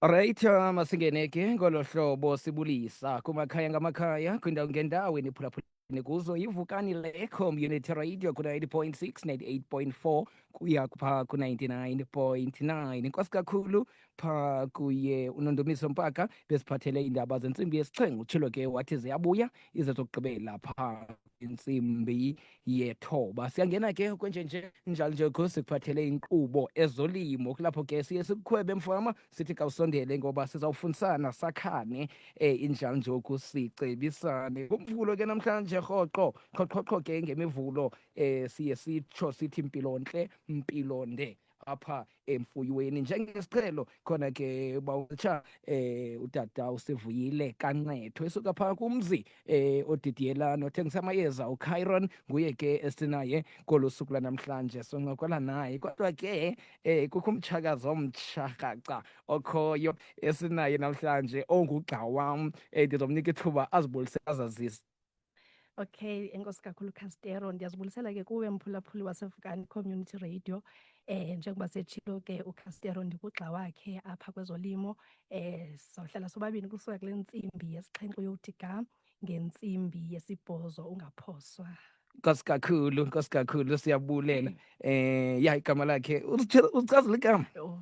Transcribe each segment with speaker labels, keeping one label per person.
Speaker 1: Right, um, asingeneke ngolo hlobo sibulisa kumakhaya ngamakhaya kwindawo ngendawo eniphulaphula kuzo yivukani le community radio ku-90.6 98.4 kuya pha ku-99.9 inkosi kakhulu pha kuye unondomiso mpaka besiphathele iindaba zentsimbi yesixhengu utshilo ke wathi ziyabuya ize zokugqibela pha intsimbi yethoba siyangena ke kwenjenje njalo nje kho sikuphathele inkqubo ezolimo kulapho ke siye sikukhwebe mfama sithi kawusondele ngoba sizawufundisana sakhane eh injalo nje ukusicebisane kumvulo ke namhlanje rhoqo qhoqhoqho ke ngemivulo eh siye sitsho sithi mpilontle mpilonde apha emfuyweni njengesiqhelo khona ke bawutsha eh utata usivuyile kanqetho esuka phaa kumzi eh odidiyela nothengisa amayeza uChyron nguye ke esinaye kolu suku lanamhlanje soncokola naye kodwa ke eh kukho umtshakazi omtsha rhaca okhoyo esinaye namhlanje ongugxa wam eh ndizomnika ithuba azibulise azazise Okay,
Speaker 2: enkosi kakhulu Castero, ndiyazibulisela ke kuwe mphulaphuli waseVukani Community Radio. Eh njengoba setshilo ke uCastero ndikugxa wakhe apha kwezolimo. Eh sohlala sobabini kusuka kule ntsimbi yesixhenxe uyothi ga ngentsimbi yesibhozo ungaphoswa nkosi
Speaker 1: kakhulu nkosi kakhulu siyabulela eh ya igama lakhe uzichazela igama
Speaker 2: oh,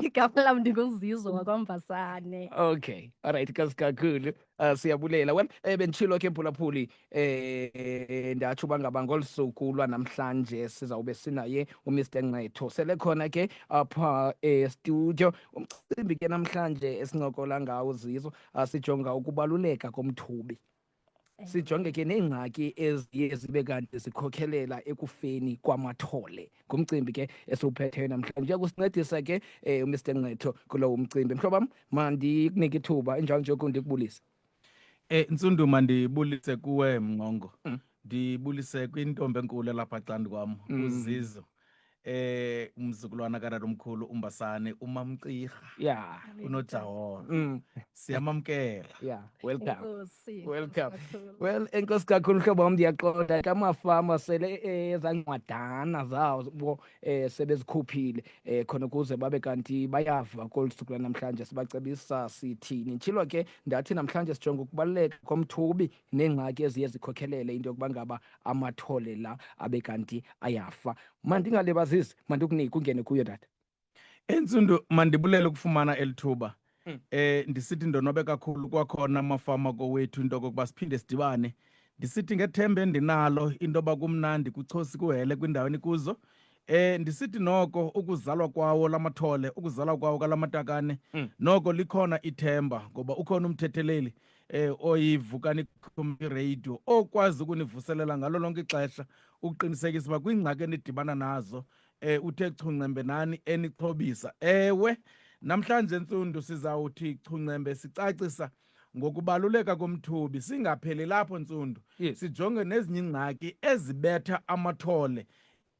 Speaker 2: igama lam ndinguzizwe wakwambasane okay all
Speaker 1: right nkosi kakhulu uh, siyabulela well eh, benditshilo ke mphulaphuli eh ndatsho uba ngaba ngolu suku lwanamhlanje sizawube sinaye umr nqetho sele khona ke apha estudio umcimbi ke namhlanje esincokola ngawo zizo ah, sijonga ukubaluleka komthubi sijonge ke neengxaki eziye zibe kanti zikhokhelela ekufeni kwamathole ngumcimbi ke esiwuphetheyo namhlanje kusincedisa ke eh, um umr nqetho kulowo mcimbi mhlobo wam mandikunike ithuba injalo njoko ndikubulise um eh,
Speaker 3: ntsundu mandibulise kuwe mnqongo mm. ndibulise kwintombi enkulu elapha candi kwam mm. uzizo eh umzukulwana kanalo omkhulu umbasane umamcirha yeah
Speaker 1: unojaholo
Speaker 3: mm. siyamamkela yeah
Speaker 1: welcome
Speaker 2: welcome
Speaker 1: well enkosi kakhulu hlobo wam ndiyaqonda ke amafama sele eh, ezancwadana zawo bo eh sebezikhuphile eh khona ukuze babe kanti bayava kolu suku lanamhlanje sibacebisa sithini ntshilo ke ndathi namhlanje sijonga ukubaluleka komthubi neengxaki eziye zikhokhelele into yokuba ngaba amathole la abe kanti ayafa mandingalibazisi mandikunike ungene kuyo tata entsundu
Speaker 3: mandibulele ukufumana eli thuba um ndisithi ndonwabe kakhulu kwakhona amafama kowethu into yokokuba siphinde sidibane ndisithi ngethemba endinalo into yoba kumnandi kuchosi kuhele kwindawo enikuzo Eh ndisithi noko ukuzalwa kwawo lamathole ukuzalwa kwawo kalamatakane mm. noko likhona ithemba ngoba ukhona umthetheleli eh oyivukani community radio okwazi ukunivuselela ngalo lonke ixesha ukuqinisekisa uba kwiingxaki enidibana nazo eh uthe chuncembe nani enixhobisa ewe namhlanje ntsundu sizawuthi chuncembe sicacisa ngokubaluleka komthubi singapheli lapho ntsundu yes. sijonge
Speaker 1: nezinye
Speaker 3: ingxaki ezibetha amathole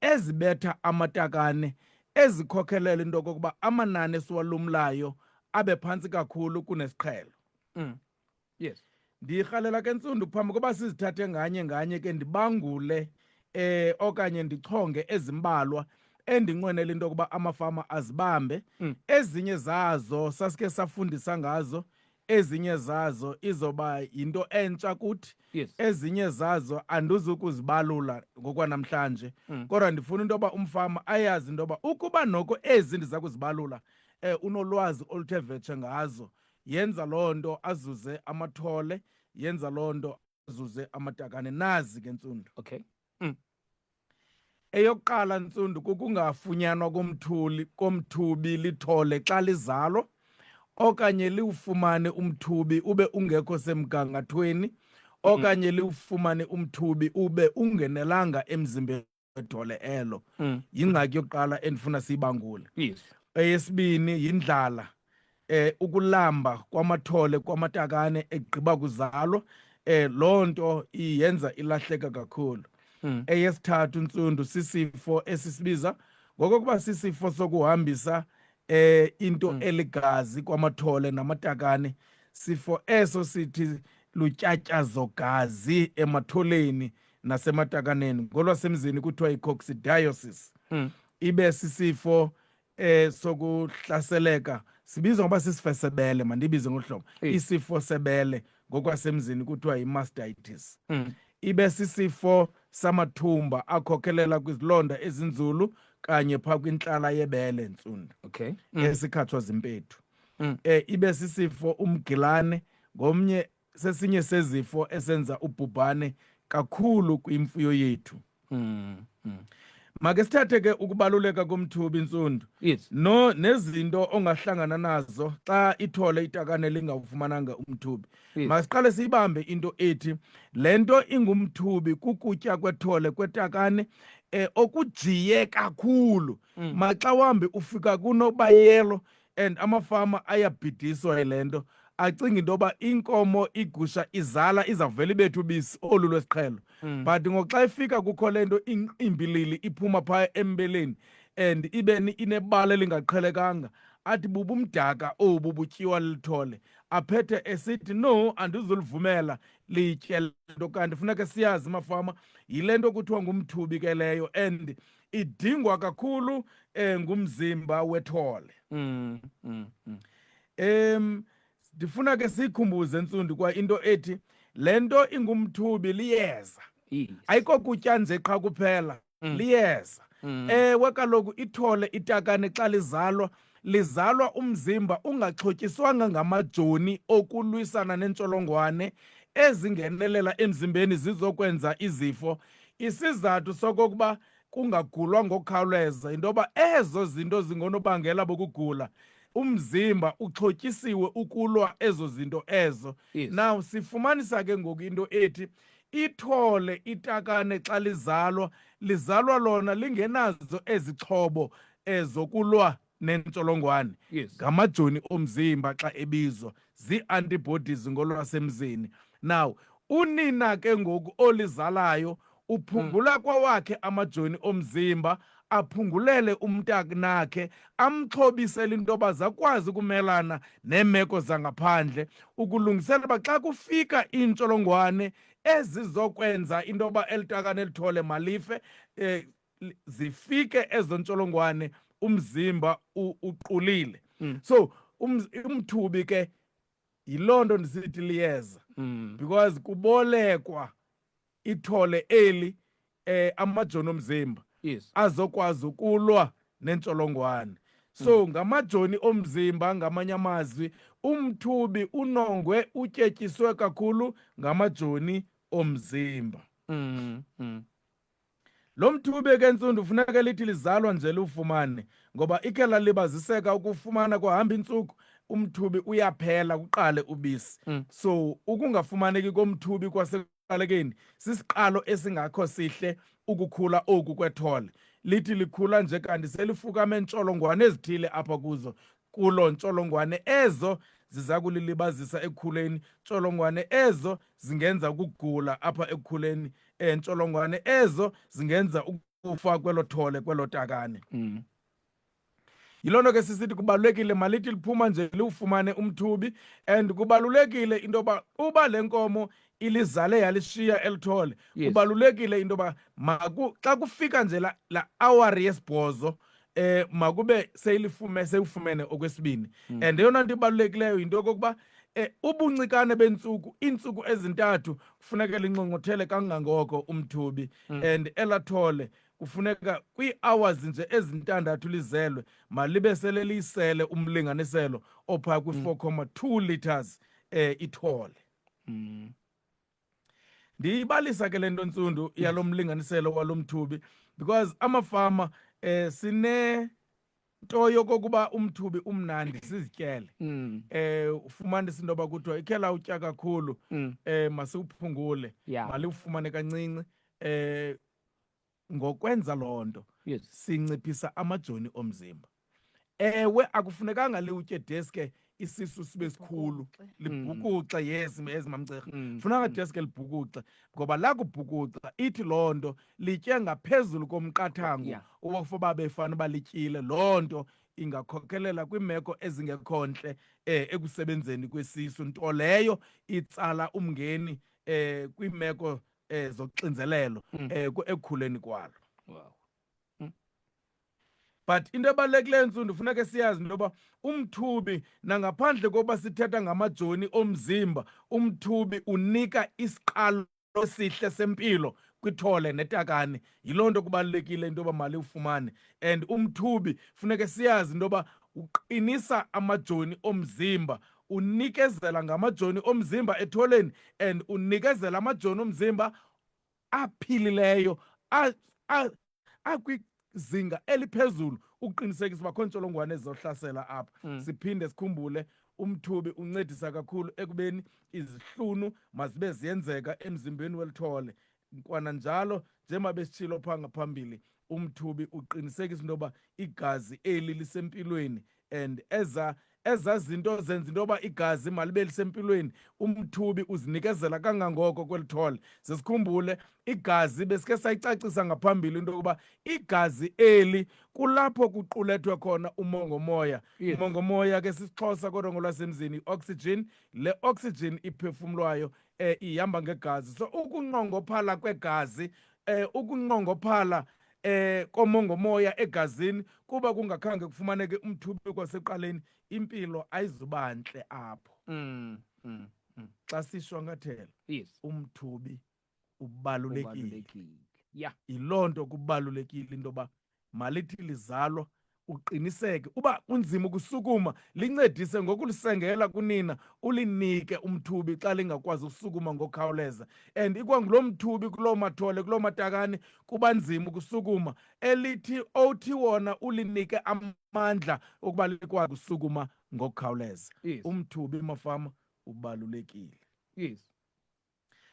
Speaker 3: ezibetha amatakane ezikhokhelela into okokuba amanani esiwalumlayo abe phantsi kakhulu kunesiqhelo mm.
Speaker 1: yes ndirhalela
Speaker 3: ke ntsundu phambi koba sizithathe nganye nganye ke ndibangule eh okanye ndichonge ezimbalwa endinqwenela into yokuba amafama azibambe mm. ezinye zazo sasike safundisa ngazo ezinye zazo izoba yinto entsha kuthi yes. ezinye
Speaker 1: zazo
Speaker 3: andizukuzibalula ngokwanamhlanje mm. kodwa ndifuna into yoba umfama ayazi into yoba ukuba noko ezi ndiza kuzibalula um eh, unolwazi oluthe vetshe ngazo yenza loo nto azuze amathole yenza loo nto azuze amatakane nazi ke ntsundu okay
Speaker 1: mm.
Speaker 3: eyokuqala ntsundu kukungafunyanwa komthuli komthubi lithole xa lizalwa okanye liwufumane umthubi ube ungekho semgangathweni okanye liwufumane umthubi ube ungenelanga emzimbeni kwedole elo mm. yingxaki yokuqala endifuna siyibangule yes.
Speaker 1: eyesibini
Speaker 3: yindlala eh ukulamba kwamathole kwamatakane egqiba kuzalwa eh loo nto iyenza ilahleka kakhulu mm. eyesithathu ntsundu sisifo esisibiza ngokokuba sisifo sokuhambisa eh into mm. eligazi kwamathole namatakane sifo eso sithi lutyatyazo gazi ematholeni nasematakaneni ngolwasemzini kuthiwa yi-coccidiosis mm. ibe sisifo eh sokuhlaseleka sibiza ngoba sisifesebele mandibize ngohlobo isifo sebele ngokwasemzini kuthiwa yi-mastitis mm. ibe sisifo samathumba akhokhelela kwizilonda ezinzulu kanye pha kwintlala yebele ntsundu okay mm. esikhathwa zimpethu mm. eh ibe sisifo umgilane ngomnye sesinye sezifo esenza ubhubhane kakhulu kwimfuyo yethu mm, mm. make sithathe ke ukubaluleka komthubi intsundu yes. no nezinto ongahlangana nazo xa ithole itakane lingawufumananga umthubi yes. masiqale siyibambe into ethi le nto ingumthubi kukutya kwethole kwetakane eh okujiye kakhulu mm. maxa wambi ufika kunobayelo and amafama ayabhidiswa yile nto acinga into yoba inkomo igusha izala izavele ibethu ubisi olu lwesiqhelo mm. but ngoxa ifika kukho le nto imbilili iphuma phaya embeleni and ibe inebala elingaqhelekanga athi bubumdaka obu butyiwa lithole aphethe esithi no andizulivumela litye lento kanti funeka siyazi mafama yile nto kuthiwa ngumthubi ke leyo and idingwa kakhulu eh ngumzimba wethole mm, mm, mm. em ndifuna ke sikhumbuze ntsundi kwa into ethi lento ingumthubi liyeza yes. ayiko kutya nje qha kuphela mm. liyeza mm. ewe kaloku ithole itakane xa lizalwa lizalwa umzimba ungaxhotyiswanga ngamajoni okulwisana neentsholongwane ezingenelela emzimbeni zizokwenza izifo. Isizathu sokokuba kungagulwa ngokukhawuleza yinto yoba ezo zinto zingonobangela bokugula umzimba uxhotyisiwe ukulwa ezo zinto ezo yes. now sifumanisa ke ngoku into ethi ithole itakane xa lizalwa lizalwa lona lingenazo ezixhobo ezokulwa nentsholongwane ngamajoni omzimba xa ebizwa zii-antibodies ngolwasemzini now unina ke ngoku olizalayo uphungula hmm. kwawakhe amajoni omzimba aphungulele umntakunakhe amxhobisele into yoba zakwazi ukumelana neemeko zangaphandle ukulungisela uba xa kufika iintsholongwane ezizokwenza into yoba elitakane lithole malife um zifike ezo ntsholongwane umzimba uqulile mm. so um, umthubi ke yiloo nto ndisithi liyeza mm. because kubolekwa ithole eli eh amajoni omzimba yes. azokwazi ukulwa nentsholongwane so mm. ngamajoni omzimba ngamanye amazwi umthubi unongwe utyetyiswe kakhulu ngamajoni omzimba mm. Mm. Lo mthube ke ntsundu funeka lithi lizalwa nje liwufumane ngoba ike lalibaziseka ukufumana kuhamba intsuku umthubi uyaphela kuqale ubisi mm. so ukungafumaneki komthubi kwasekuqalekeni sisiqalo esingakho sihle ukukhula oku kwethole lithi likhula nje kanti selifukame ntsholongwane ezithile apha kuzo kulo ntsholongwane ezo ziza kulilibazisa ekukhuleni ntsholongwane ezo zingenza ukugula apha ekukhuleni um ntsholongwane ezo zingenza ukufa kwelo thole kwelo takane mm. yiloo nto ke sisithi kubalulekile malithi liphuma nje liwufumane umthubi and kubalulekile into yoba uba le nkomo ilizale yalishiya eli thole Yes. kubalulekile into yoba maku- xa kufika nje la- la awari yesibhozo eh makube seyilifume seyifumene okwesibini Mm. and eyona nto ibalulekileyo yinto yokokuba eh ubuncikane bentsuku iintsuku ezintathu kufuneka linxongothele kangangoko umthubi Mm. and elathole kufuneka kwii-hours nje ezintandathu lizelwe malibe sele liyisele umlinganiselo ophaa kwi-4 comma 2 litres eh ithole mm. ndiyibalisa ke le nto ntsundu yalo mlinganiselo walo mthubi because amafama eh sine nto yokokuba umthubi umnandi sizityele mm. eh ufumanisa into yoba kuthiwa ikhela utya kakhulu mm. eh masiwuphungule yeah. maliwufumane kancinci eh ngokwenza loo nto yes. sinciphisa amajoni omzimba ewe akufunekanga liwutye deske isisu sibe sikhulu libhukuxe mm. yes yes mamcerha mm. funanga mm. deske libhukuxe ngoba lakubhukuxa ithi loo nto litye ngaphezulu komqathango yeah. owakufoba befana uba lityile loo nto ingakhokelela kwiimeko ezingekho ntle eh ekusebenzeni kwesisu nto leyo itsala umngeni eh kwiimeko eh zoxinzelelo mm. eh ekukhuleni kwalo wow mm. but into ebalulekileyo ntsundu funeka siyazi into yoba umthubi nangaphandle kokuba sithetha ngamajoni omzimba umthubi unika isiqalo esihle sempilo kwithole netakane yiloo nto kubalulekile into yoba mali ufumane and umthubi funeke siyazi into yoba uqinisa amajoni omzimba unikezela ngamajoni omzimba etholeni and unikezela amajoni omzimba aphilileyo akwizinga eliphezulu ukuqinisekisa uba kho ntsholongwane ezizohlasela apha mm. siphinde sikhumbule umthubi uncedisa kakhulu ekubeni izihlunu mazibe ziyenzeka emzimbeni welithole Kwananjalo, njengoba besitshilo phaa ngaphambili, umthubi uqinisekisa into yoba igazi eli lisempilweni and eza ezaa zinto zenza into yoba igazi malibe lisempilweni umthubi uzinikezela kangangoko kweli thole sesikhumbule igazi besike sayicacisa ngaphambili into yokuba igazi eli kulapho kuqulethwe khona umongomoya yes. umongomoya
Speaker 1: ke sisixhosa
Speaker 3: kodwa ngolwasemzini i-oxygen le oxygen iphefumlwayo eh, ihamba ngegazi so ukunqongophala kwegazi eh, ukunqongophala eh komongomoya egazini kuba kungakhange kufumaneke umthubi kwaseqaleni impilo ayizubantle apho mm, mm, mm. xa sishwankathela yes. umthubi ubalulekile ya
Speaker 1: yiloo nto
Speaker 3: kubalulekile into yoba Malithi lizalwa uqiniseke uba kunzima ukusukuma lincedise ngokulisengela kunina ulinike umthubi xa lingakwazi ukusukuma ngokhawuleza and ikwangulo mthubi kuloo mathole kuloo matakane kuba nzima ukusukuma elithi othi wona ulinike amandla okuba likwazi ukusukuma ngokukhawuleza yes. umthubi
Speaker 1: mafama
Speaker 3: ubalulekile yes.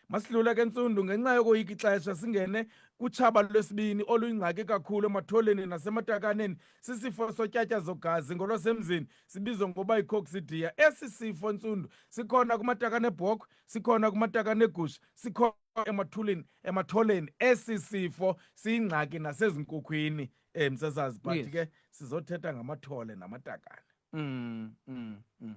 Speaker 3: Masidlula ke ntsundu ngenxa yokoyika ixesha singene kutshaba lwesibini oluyingxaki kakhulu ematholeni nasematakaneni sisifo sotyatya zogazi ngolwasemzini sibizwa ngokuba yicoccidia esi sifo ntsundu sikhona kumatakane ebhokhwe sikhona kumatakane egusha sikhona emathuleni ematholeni esi sifo siyingxaki nasezinkukhwini um sesazi but ke sizothetha ngamathole namatakane Mm, mm, mm.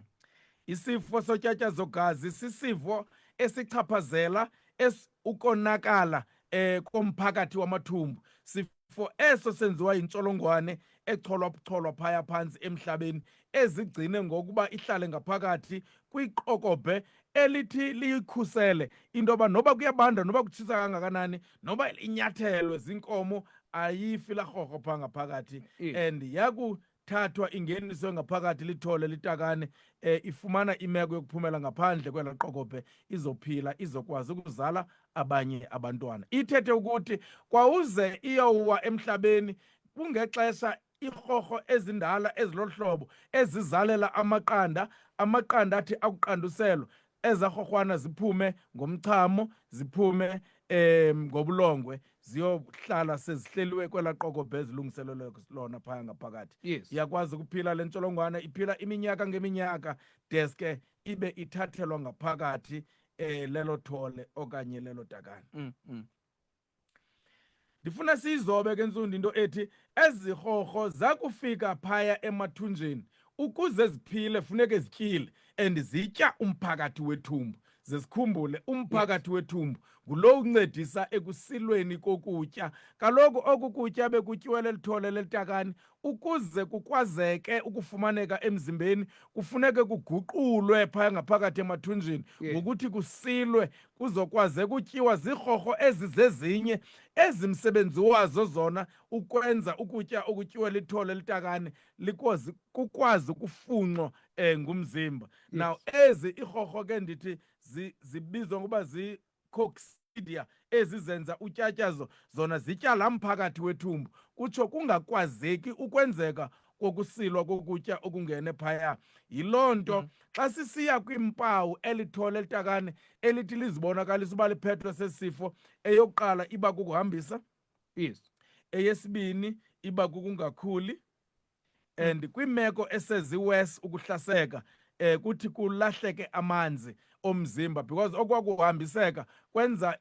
Speaker 3: Isifo sotyatyazogazi sisifo esichaphazela es ukonakala eh komphakathi wamathumbu sifo eso senziwa yintsholongwane echolwa bucholwa phaya phantsi emhlabeni ezigcine ngokuba ihlale ngaphakathi kwiqokobhe elithi liyikhusele into yoba noba kuyabanda noba kutshisa kangakanani noba inyathelwe zinkomo ayifi larhorho phaa ngaphakathati and yaku thathwa ingeniswe ngaphakathi lithole litakane eh, ifumana imeko yokuphumela ngaphandle kwela qokope izophila izokwazi ukuzala abanye abantwana ithethe ukuthi kwawuze iyowa emhlabeni kungexesha irhorho ezindala ezilohlobo ezizalela amaqanda amaqanda athi akuqanduselwa ezarhorhwana ziphume ngomchamo ziphume um ngobulongwe ziyohlala sezihleliwe kwela qokobe ezilungiselelwe lona phaya ngaphakathi yes. iyakwazi ukuphila
Speaker 1: le
Speaker 3: ntsholongwane iphila iminyaka ngeminyaka deske ibe ithathelwa ngaphakathi um lelo thole okanye lelo dakane mm, mm. ndifuna siyizobe ke ntsundi into ethi ezirhorho zakufika phaya emathunjeni ukuze ziphile funeke zityile and zitya umphakathi wethumbu zesikhumbule umphakathi wethumbu ngulo uncedisa ekusilweni kokutya kaloku oku kutya bekutyiwele lithole lelitakani Ukuze kukwazeke ukufumaneka emzimbeni kufuneke kuguqulwe phaya ngaphakathi emathunjini yeah. ngokuthi kusilwe kuzokwazeka utyiwa ziirhorho ezi zezinye ezi msebenzi wazo zona ukwenza ukutya okutyiwa lithole elitakane likwazi kukwazi ukufunxwa um ngumzimba yes. now ezi iirhorho ke ndithi zibizwa ngokuba coccidia ezizenza utyatyazo zona zityala mphakathi wethumbu kutsho kungakwazeki ukwenzeka kokusilwa kokutya okungene phaya yiloo nto mm. xa sisiya kwiimpawu elithole elitakane elithi lizibonakalisa uba liphethwe sesifo eyokuqala iba kukuhambisa yes
Speaker 1: eyesibini
Speaker 3: iba kukungakhuli and kwimeko eseziwes ukuhlaseka eh kuthi kulahleke amanzi omzimba because okwakuhambiseka kwenza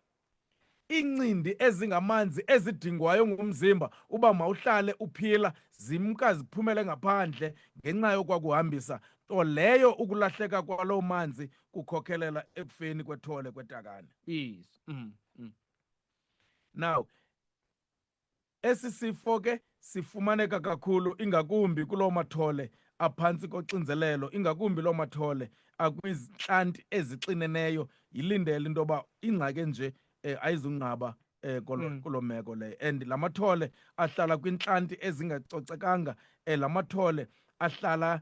Speaker 3: incindi ezingamanzi ezidingwayo ngumzimba uba mawuhlale uphila zimka ziphumele ngaphandle ngenxa yokwakuhambisa nto leyo ukulahleka kwaloo manzi kukhokhelela ekufeni kwethole kwetakane yes. mm, mm. now Esi sifo ke sifumaneka kakhulu ingakumbi kuloo mathole aphantsi koxinzelelo, ingakumbi loo mathole akwizintlanti ezixineneyo. Yilindele into yoba ingxaki enje um ayizunqaba um kolo Mm. kuloo meko leyo and la mathole ahlala kwiintlanti ezingacocekanga um la mathole ahlala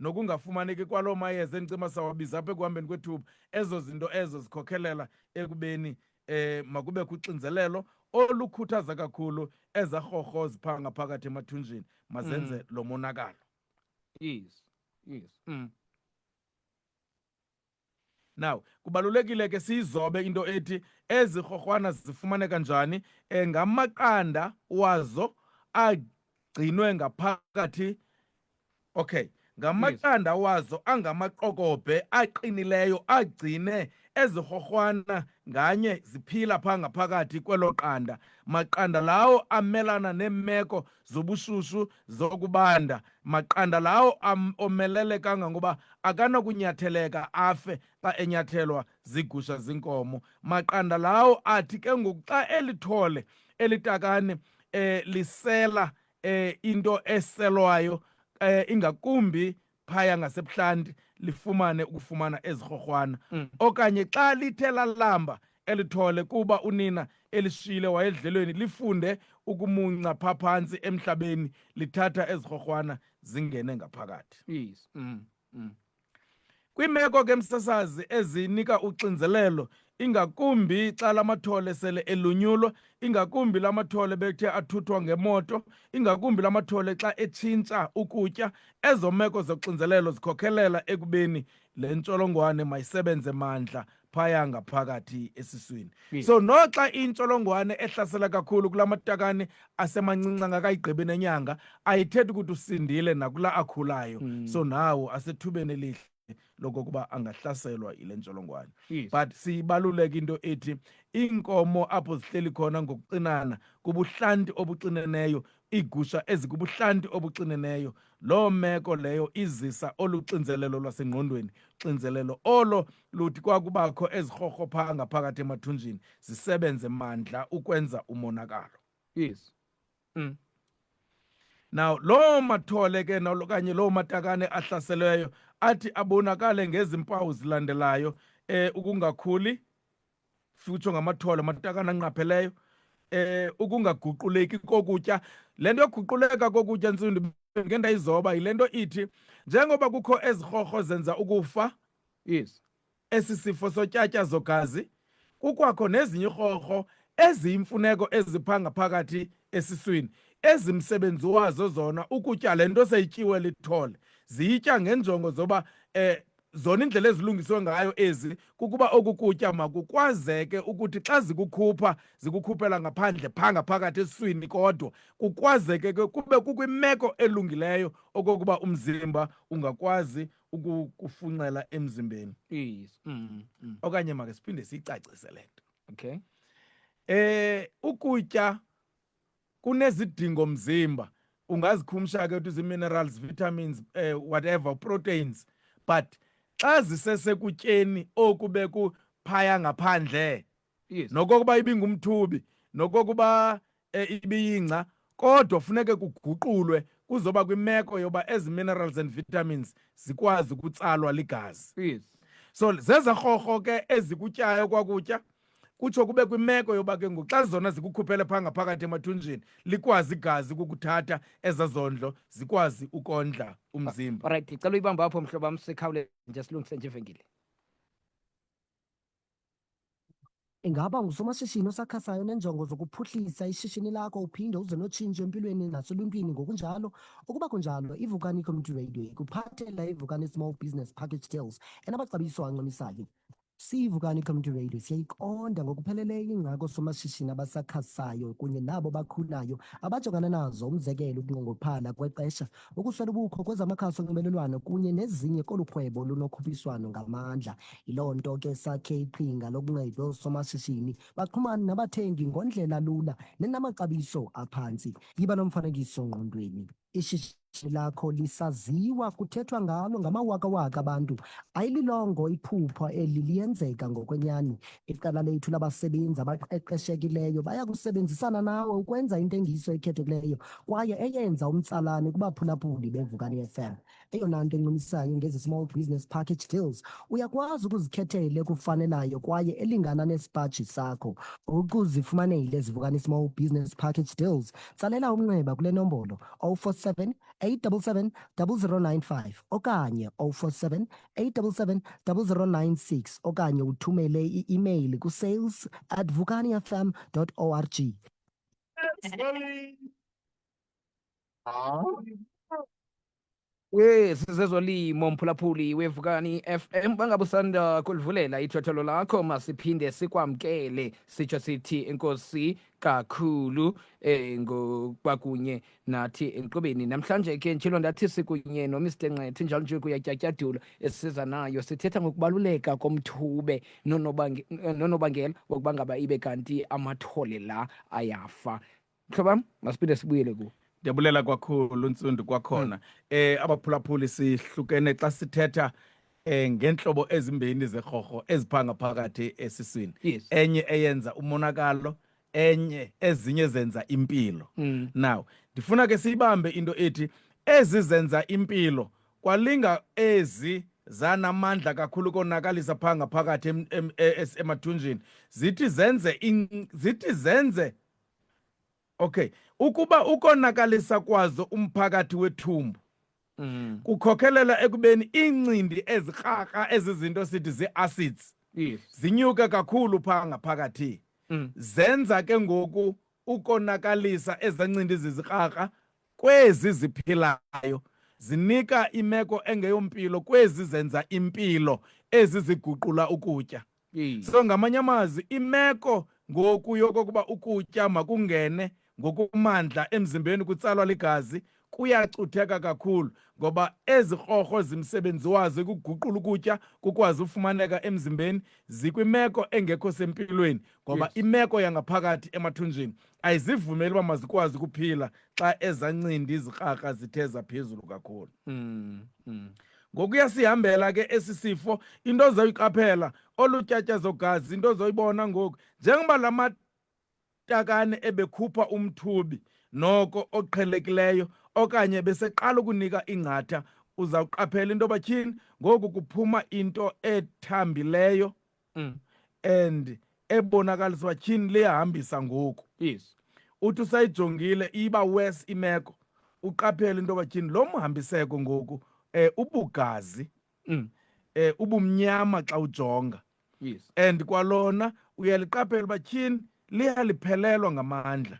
Speaker 3: nokungafumaneki kwaloo mayeza endicima sawabiza apha ekuhambeni kwethuba ezo zinto ezo zikhokhelela ekubeni eh makube kuxinzelelo olukhuthaza kakhulu ezarhorho zipha ngaphakathi emathunjini mazenze mm. lo monakalo yes
Speaker 1: yes mm.
Speaker 3: Now, kubalulekile ke siyizobe into ethi ezi rhorhwana zifumaneka njani eh, ngamaqanda wazo agcinwe ngaphakathi okay ngamaqanda wazo angamaqokobhe aqinileyo agcine ezirhorhwana nganye ziphila phaa ngaphakathi kwelo qanda maqanda lawo amelana neemeko zobushushu zokubanda maqanda lawo omelele kangangoba akanakunyatheleka afe xa enyathelwa zigusha zinkomo maqanda lawo athi ke ngoku xa elithole elitakane eh lisela eh into eselwayo eh ingakumbi phaya ngasebuhlanti lifumane ukufumana ezirhorhwana mm. okanye xa lithe lalamba elithole kuba unina elishiyile wayedlelweni lifunde ukumunca pha phantsi emhlabeni lithatha ezirhorhwana zingene ngaphakathi yes. mm.
Speaker 1: mm.
Speaker 3: kwiimeko ke msasazi ezinika uxinzelelo ingakumbi xa la mathole sele elunyulwa ingakumbi la mathole bethe athuthwa ngemoto ingakumbi la mathole xa etshintsha ukutya ezo meko zoxinzelelo zikhokhelela ekubeni le ntsholongwane mayisebenze mandla phaya ngaphakathi esiswini yes. so noxa intsholongwane ehlasela kakhulu kula matakane asemancinci angakayigqibi nenyanga ayithethi ukuthi usindile nakula akhulayo mm. so nawo asethubeni elihle lokokuba angahlaselwa yile ntsholongwane yes. but
Speaker 1: siyibaluleka
Speaker 3: into ethi iinkomo apho zihleli khona ngokucinana kubuhlanti obucineneyo iigusha ezikubuhlanti obuxineneyo loo meko leyo izisa olu xinzelelo lwasengqondweni xinzelelo olo luthi kwakubakho ezirhorhophaa ngaphakathi emathunjini zisebenze mandla ukwenza umonakalo yes
Speaker 1: mm.
Speaker 3: now loo mathole ke okanye loo matakane ahlaselweyo athi abonakale ngezi mpawu zilandelayo eh ukungakhuli futsho ngamathole amatakane anqapheleyo eh ukungaguquleki kokutya le nto yoguquleka kokutya ntsundi ngendayizoba yile nto ithi njengoba kukho ezirhorho zenza ukufa yes
Speaker 1: Esi sifo
Speaker 3: sotyatyazo-gazi kukwakho nezinye irhorho eziyimfuneko eziphanga phakathi esiswini ezimsebenzi wazo zona ukutya le nto seyityiwe lithole ziyitya ngenjongo zoba um zona indlela ezilungiswe ngayo ezi kukuba oku kutya makukwazeke ukuthi xa zikukhupha zikukhuphela ngaphandle phaa ngaphakathi esiswini kodwa kukwazeke ke kube kukwimeko elungileyo okokuba umzimba ungakwazi ukukufunxela emzimbeni yes
Speaker 1: mm, mm. okanye
Speaker 3: make siphinde siyicacise le nto okay
Speaker 1: eh ukutya
Speaker 3: kunezidingo mzimba ungazikhumsha ke uthi zii-minerals vitamins eh, whatever proteins but xa zisesekutyeni oku bekuphaya ngaphandle yes. nokokuba
Speaker 1: ibingumthubi
Speaker 3: nokokuba e, ibiyingca kodwa funeke kuguqulwe kuzoba kwimeko yoba ezi minerals and vitamins zikwazi ukutsalwa ligazi yes. so zezarhorho ke ezikutyayo kwakutya kutsho kube kwimeko yoba ke ngoku xa zona zikukhuphele phaa ngaphakathi emathunjini likwazi igazi ukukuthatha eza zondlo zikwazi ukondla umzimba olrayithi cela uyibamba apho
Speaker 1: mhlobo wam sikhawuleze nje silungise nje ivenkile
Speaker 4: Ingaba ungusomashishini osakhasayo onenjongo zokuphuhlisa ishishini lakho uphinde uze notshintsho empilweni naseluntwini ngokunjalo? Ukuba kunjalo, iVukani Community Radio ikuphathela iVukani Small Business Package Deals enamaxabiso ancumisayo. SiyiVukani Community Radio siyayiqonda ngokupheleleyo ingxaki oosomashishini abasakhasayo kunye nabo bakhulayo abajongana nazo, umzekelo ukunqongophala kwexesha Ukuswela ubukho kwezamakhasi onxibelelwano kunye nezinye kolu rhwebo lunokhuphiswano ngamandla. Yiloo nto ke sakhe iqhinga lokunceda oosomashishini baxhumane nabathengi ngondlela lula nenamaxabiso aphantsi. Yiba nomfanekiso ngqondweni. Ishishini lakho lisaziwa kuthethwa ngalo ngamawakawaka abantu. Ayililongo iphupha eli liyenzeka ngokwenyani. Iqela lethu labasebenzi abaqeqeshekileyo baya kusebenzisana nawe ukwenza intengiso ekhethekileyo kwaye eyenza umtsalane kubaphulaphuli beVukani FM. Eyona nto encumisayo ngezi Small Business Package Deals, uyakwazi ukuzikhethela ekufanelayo kwaye elingana nesipaji sakho. Ukuzifumanela ezi Vukani Small Business Package Deals, tsalela umnxeba kule nombolo 047 877 0095 okanye 047 877-0096 okanye uthumele i-imeyili kusales at vukaniafm org
Speaker 1: wesizezolimo mphulaphuli wevukani FM bangabe usanda kulivulela ithotholo lakho masiphinde sikwamkele sitsho sithi inkosi kakhulu eh ngokwakunye nathi enkqubeni namhlanje ke njelo ndathi sikunye noMr Nqethi njalo nje kuyatyatyadula esiza nayo sithetha ngokubaluleka komthube nonobangela wokuba ngaba ibe kanti amathole la ayafa mhlobam masiphinde sibuyele kuwo ndiyabulela kwakhulu
Speaker 3: ntsundu kwakhona um eh, abaphulaphuli sihlukene xa sithetha eh ngenhlobo ezimbini zekhorho eziphanga phakathi esiswini Yes. enye
Speaker 1: eyenza
Speaker 3: umonakalo enye ezinye zenza impilo Mm. now ndifuna ke siyibambe into ethi ezi zenza impilo kwalinga ezi zanamandla kakhulu konakalisa phaa ngaphakathi em- em- e- es- emathunjini zithi zenze in- zithi zenze okay ukuba ukonakalisa kwazo umphakathi wethumbu mm. kukhokelela ekubeni iincindi ezikrakra ezizinto sithi zii-acids yes. zinyuke kakhulu phaa ngaphakathi mm. zenza ke ngoku ukonakalisa ezancindi zizikrakra kwezi ziphilayo zinika imeko engeyompilo kwezi zenza impilo ezi ziguqula ukutya So ngamanye amazwi imeko ngoku yokokuba ukutya makungene ngokumandla emzimbeni kutsalwa ligazi kuyacutheka kakhulu ngoba ezi krorho zimsebenzi wazo ekuguqula ukutya kukwazi ufumaneka emzimbeni zikwimeko engekho sempilweni ngoba yes. imeko yangaphakathi emathunjini ayizivumeli uba mazikwazi ukuphila xa ezancindi izikrakra zithe zaphezulu kakhulu mm, mm. ngokuya sihambela ke esi sifo into ozoyiqaphela olu tyatyazo gazi into ozoyibona ngoku njengoba la matakane ebekhupha umthubi noko oqhelekileyo okanye beseqala ukunika ingcatha uzawuqaphela into yoba tyhini ngoku kuphuma into ethambileyo mm. and ebonakaliswa tyhini liyahambisa ngoku yes
Speaker 1: uthi usayijongile
Speaker 3: iba worse imeko uqaphele into yoba tyhini lo mhambiseko ngoku um ubugazi mm. um ubumnyama xa ujonga yes and
Speaker 1: kwalona
Speaker 3: uyaliqaphela uba tyhini liyaliphelelwa ngamandla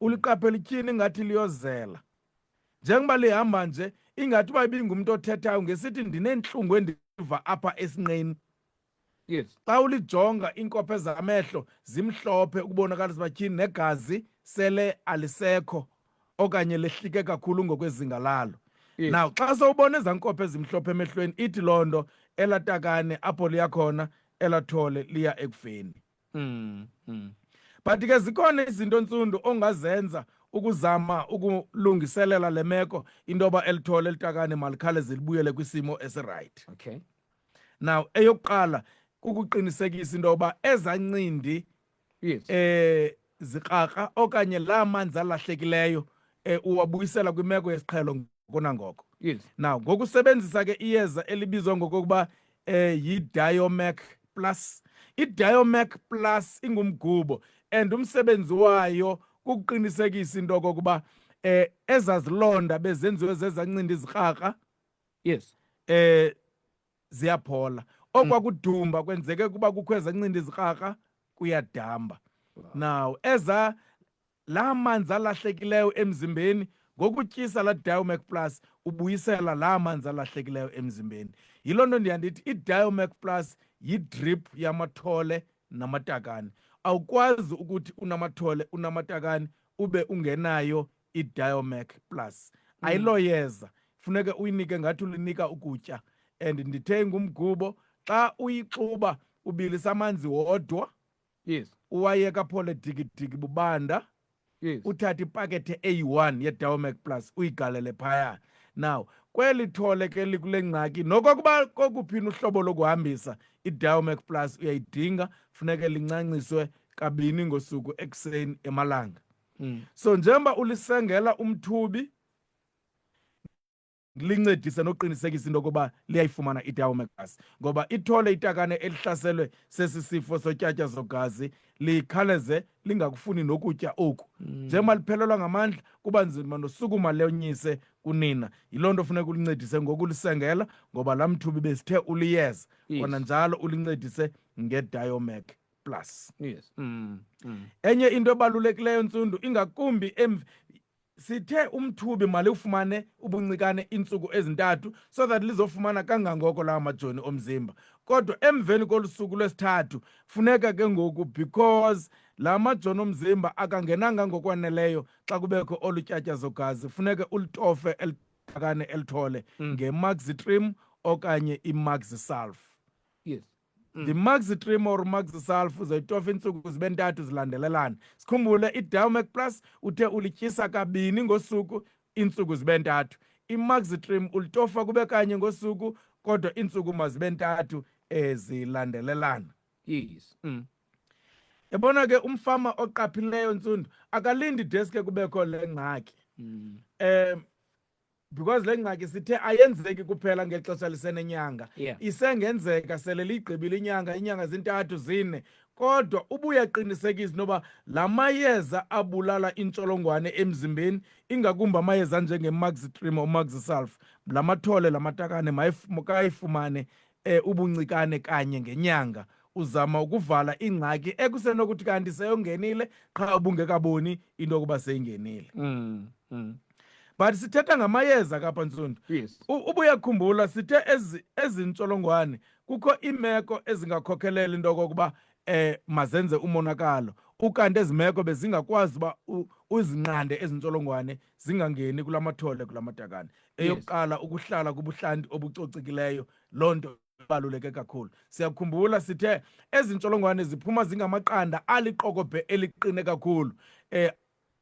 Speaker 3: uliqaphela ityhini ingathi liyozela njengoba lihamba nje ingathi uba ibingumntu othethayo ngesithi ndineentlungu endiva apha esinqeni yes
Speaker 1: xa ulijonga
Speaker 3: iinkopha ezamehlo zimhlophe ukubonakalisa uba tyhini negazi sele alisekho okanye lehlike kakhulu ngokwezinga lalo yes. now xa
Speaker 1: sowubona ezaa
Speaker 3: nkopha ezimhlophe emehlweni ithi loo nto elatakane apho liyakhona elathole liya ekufeni Mm, mm. But ke zikhona izinto ntsundu ongazenza ukuzama ukulungiselela le meko into yoba elithole elitakane malikhale zilibuyele kwisimo esirayithi okay
Speaker 1: now
Speaker 3: eyokuqala kukuqinisekisa into yoba ezancindi yes
Speaker 1: eh
Speaker 3: zikrakra okanye laa manzi alahlekileyo um uwabuyisela kwimeko yesiqhelo ngoko nangoko yes. now
Speaker 1: ngokusebenzisa
Speaker 3: ke iyeza elibizwa ngokokuba um yidiomac plus idiomac plus ingumgubo and umsebenzi wayo kukuqinisekisa into okokuba eh ezazilonda bezenziwe zezancindi izikrakra yes
Speaker 1: eh
Speaker 3: ziyaphola okwa mm. kudumba kwenzeke ukuba kukho ezancindi izikrakra kuyadamba now eza la manzi alahlekileyo emzimbeni ngokutyisa la diomac plus ubuyisela la manzi alahlekileyo emzimbeni yiloo nto ndiyandithi idiomac plus yidrip yamathole namatakane awukwazi ukuthi unamathole unamatakane ube ungenayo iDiomac Plus mm. ayiloyeza funeke uyinike ngathi ulinika ukutya and ndithe ngumgubo xa uyixuba ubilisa amanzi wodwa yes
Speaker 1: uwayeka phole
Speaker 3: digidigi bubanda yes uthathe
Speaker 1: ipakethe
Speaker 3: eyi-one yediomac plus uyigalele phaya now kweli thole ke likule ngxaki nokokuba kokuphina uhlobo lokuhambisa idiomac plus uyayidinga funeke lincanciswe kabini ngosuku ekuseni emalanga mm. so njengoba ulisengela umthubi lincedise nokuqinisekisa into yokuba liyayifumana itawo megazi ngoba ithole itakane elihlaselwe sesi sifo sotyatya zogazi likhaleze lingakufuni nokutya oku mm. njengoba liphelelwa ngamandla kuba nzima nosukuma lenyise kunina yiloo nto funeka ulincedise ngokulisengela ngoba laa mthubi besithe uliyeza kona njalo ulincedise ngediomec plus yes mm, mm.
Speaker 1: enye
Speaker 3: into ebalulekileyo ntsundu ingakumbi em sithe umthubi mali ufumane ubuncikane iintsuku ezintathu so that lizofumana kangangoko lawo majoni omzimba kodwa emveni kolusuku lwesithathu funeka ke ngoku because la majoni omzimba akangenanga ngokwaneleyo xa kubekho olu tyatyazo gazi funeke ulitofe elidakane elithole mm. nge-maxitrim okanye i-maxi sulf yes
Speaker 1: Mm. ndimaxitrim
Speaker 3: or maxisalf uzoyitofa iintsuku zibe ntathu zilandelelana sikhumbule idowmac plus uthe ulityisa kabini ngosuku iintsuku zibe ntathu imaxitrim ulitofa kube kanye ngosuku kodwa iintsuku mazibe ntathu ezilandelelana yes
Speaker 1: mm.
Speaker 3: yabona ke umfama oqaphileyo ntsundu akalindi deske kubekho le ngxaki mm. um because le ngxaki sithe ayenzeki kuphela ngexesha lisenenyanga yeah. isengenzeka
Speaker 1: sele
Speaker 3: liyigqibile inyanga inyanga zintathu zine kodwa ubuyaqinisekisa noba la mayeza abulala intsholongwane emzimbeni ingakumbi amayeza anjengemaxitrim omaxisulf la mathole la matakane makayifumane um ubuncikane kanye ngenyanga uzama ukuvala ingxaki ekusenokuthi kanti seyongenile qha ubungekaboni into yokuba seyingenile mm, mm. but sithetha ngamayeza kapha ntsundu yes. ubuyakhumbula
Speaker 1: sithe
Speaker 3: ezi ntsholongwane kukho iimeko ezingakhokhelela into okokuba um eh, mazenze umonakalo ukanti ezi meko bezingakwazi uba uzinqande ezi ntsholongwane zingangeni kula mathole kula matakane eyokuqala yes. ukuhlala kubuhlanti obucocikileyo loo nto ibaluleke kakhulu siyakhumbula sithe ezi ntsholongwane ziphuma zingamaqanda aliqokobhe eliqine kakhulu um eh,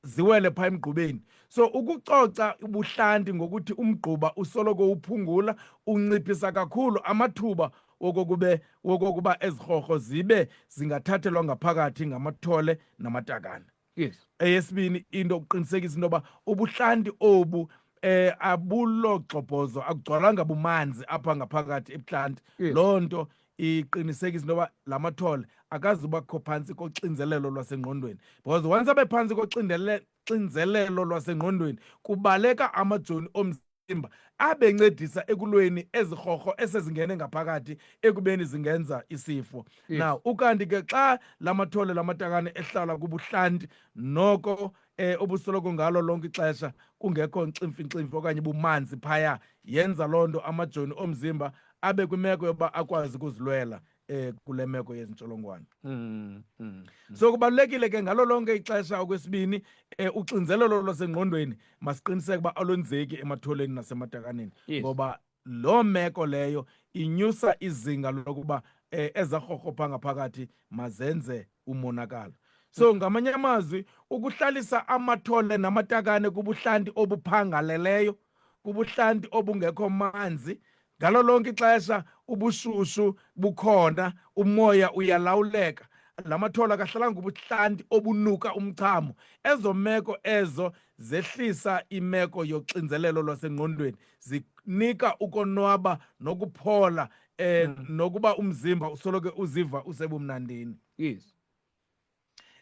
Speaker 3: ziwele phaa emgqubeni so ukucoca ubuhlanti ngokuthi umgquba usoloko uphungula unciphisa kakhulu amathuba wokokube wokokuba ezirhorho zibe zingathathelwa ngaphakathi ngamathole namatakane yes
Speaker 1: eyesibini into
Speaker 3: ukuqinisekisa into yoba ubuhlanti obu eh abulogxobhozo akugcwalanga bumanzi apha ngaphakathi ebuhlanti loo nto iqinisekise into yoba la mathole akazubakho phantsi koxinzelelo lwasengqondweni because once abe phantsi koxinzelelo lwasengqondweni kubaleka amajoni omzimba abencedisa ekulweni ezirhorho esezingene ngaphakathi ekubeni zingenza isifo yes. now ukanti ke xa la mathole la matakane ehlala kubuhlanti noko eh obusoloko ngalo lonke ixesha kungekho nximfinximfi okanye bumanzi phaya yenza loo nto amajoni omzimba abe kwimeko yokuba akwazi ukuzilwela eh kule meko yezi ntsholongwane mm, mm, mm. so kubalulekile ke ngalo lonke ixesha okwesibini eh, uxinzelelo lwasengqondweni masiqiniseke uba alwenzeki ematholeni nasematakaneni ngoba loo meko leyo inyusa izinga lokuba eh, ezarhorho phangaphakathi mazenze umonakalo so ngamanye amazwi ukuhlalisa amathole namatakane kubuhlanti obuphangaleleyo kubuhlanti obungekho manzi ngalo lonke ixesha ubushushu bukhona umoya uyalawuleka la mathole akahlalanga ubuhlanti obunuka umchamo ezo meko ezo zehlisa imeko yoxinzelelo lwasengqondweni zinika ukonwaba nokuphola eh mm. nokuba umzimba usoloke uziva usebumnandini yes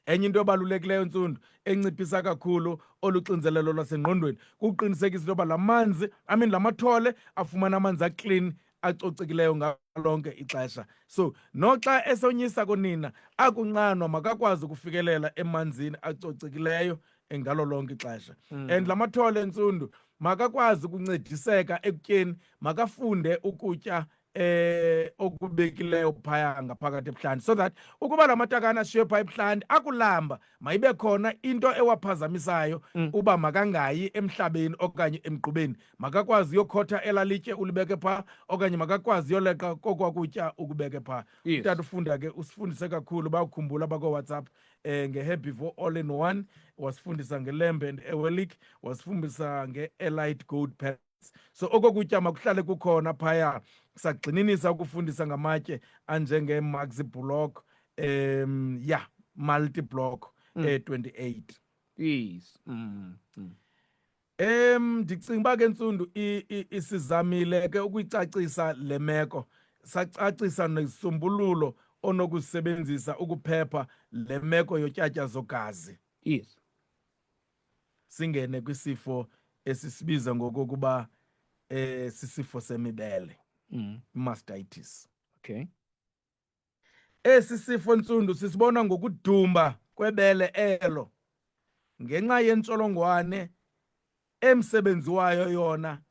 Speaker 3: enye into ebalulekileyo ntsundu enciphisa kakhulu oluxinzelelo lwasengqondweni kukuqinisekisa into yoba la manzi i mean la mathole afumana amanzi aclean acocekileyo ngalonke ixesha so noxa esonyisa kunina akunqanwa makakwazi ukufikelela emanzini acocekileyo ngalo lonke ixesha mm. and la mathole entsundu makakwazi ukuncediseka ekutyeni makafunde ukutya eh okubekileyo phaya ngaphakathi ebuhlanti so that ukuba la matakane ashiywe phaya ebuhlanti akulamba mayibe khona into ewaphazamisayo mm. uba makangayi emhlabeni okanye emgqubeni makakwazi uyokhotha elalitye ulibeke phaa okanye makakwazi uyoleqa kokwakutya ukubeke phaa yes. utata ufunda ke usifundise kakhulu bakukhumbula bakowhatsapp eh, nge-happy for all in one wasifundisa ngelamb and ewelik wasifundisa nge-elite gold pack so oko kutya makuhlale kukhona phaya sagxininisa ukufundisa ngamatye anjengee-maxi block um ya yeah, multi block mm. e-28
Speaker 1: yes
Speaker 3: mm. Mm. Em ndicinga uba ke ntsundu isizamile ke ukuyicacisa le meko sacacisa nesisombululo onokusebenzisa ukuphepha le meko yotyatyazo gazi yes singene kwisifo esisibiza ngokokuba eh sisifo semibele mm. mastitis okay esi sifo ntsundu sisibona ngokudumba kwebele elo ngenxa yentsholongwane emsebenzi wayo yona